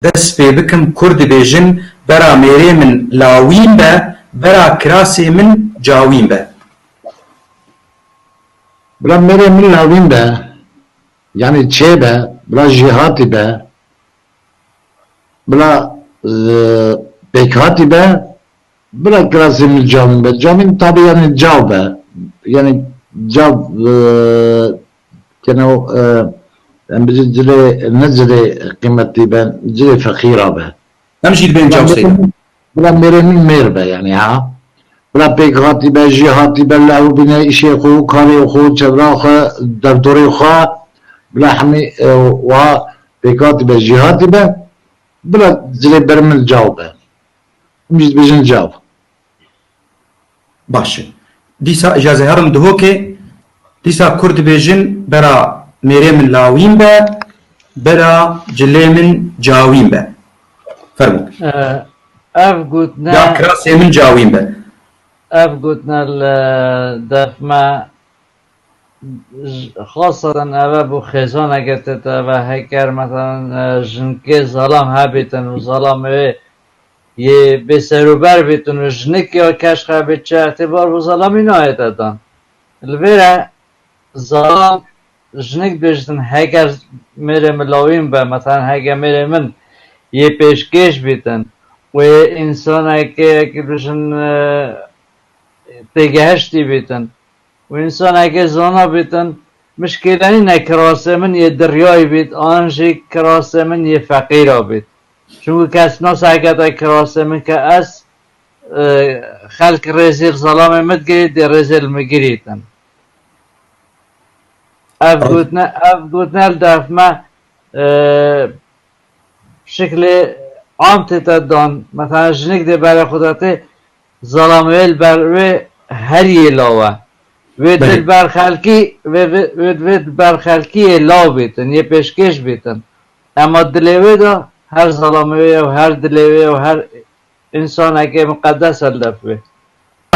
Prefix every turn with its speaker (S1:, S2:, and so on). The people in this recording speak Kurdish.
S1: Dest pê bikim kur dibêjin bera mêrê min lawîn be, bera kirasê min cawîn be.
S2: Bila mêrê min lawîn be, yanî çê be, bila jêhatî be, bila pêkhatî be, bira kirasê min cawîn be. Cawîn tabî yanî caw be, yanî caw. Keno em bijî cilê ne cilê qîmetî be cilê feqîra be. Em jî dibên
S1: cawsê de. Bila mêrê
S2: min mêr be yanî ha. Bila pêk hatî be jî hatî be bila ew bîne îşê xwe û karê xwe û çevra xwe derdorê xwe bila hemî wiha pêk hatî be jî hatî be bila cilê ber min caw be. Em jî dibêjin caw.
S1: Baş e. Dîsa ji ez ê herim dihokê, dîsa kur dibêjin bera mêrê min lawîn be, bera cilê min cawîn be. Fermo.
S3: Ev gotina... Ya kirasê min
S1: cawîn be. Ev
S3: gotina li defme xasadan eve bû xêzana girtete eve heker meselan jinkê zalam hebêtin û zalam ê Yê bêserober bê tune jinik ya keşxe bê çerx tê bar bo zalamî nayete dan. Li vê re zalam jinik dibêje din heger mêrê min lawîn be meselan heger mêrê min yê pêşkêş bî din û yê însaneke yekî bijin têgehiştî bî din Wê însaneke zana bêtin, mişkêlenî ne kirasê min yê diryayî bêt an jî kirasê min yê feqîr a bêt. Çunku kes nas heketa kirasê min ke ez xelk rêzê li zelamê min digirî dê rêzê li min girîtin. Ev gotine ev gotine li derf me bi şiklê am tête dan. Meselan jinik dê berê xwe de tê Zalamoyê li ber wê herî yê law e. Wê tu li ber xelkî wê wê wê li ber xelkî yê law bîtin, yê pêşkêş bîtin. Ema dilê wê de her zalamoyê û her dilê wê û her însanekê miqedes e li dest wê.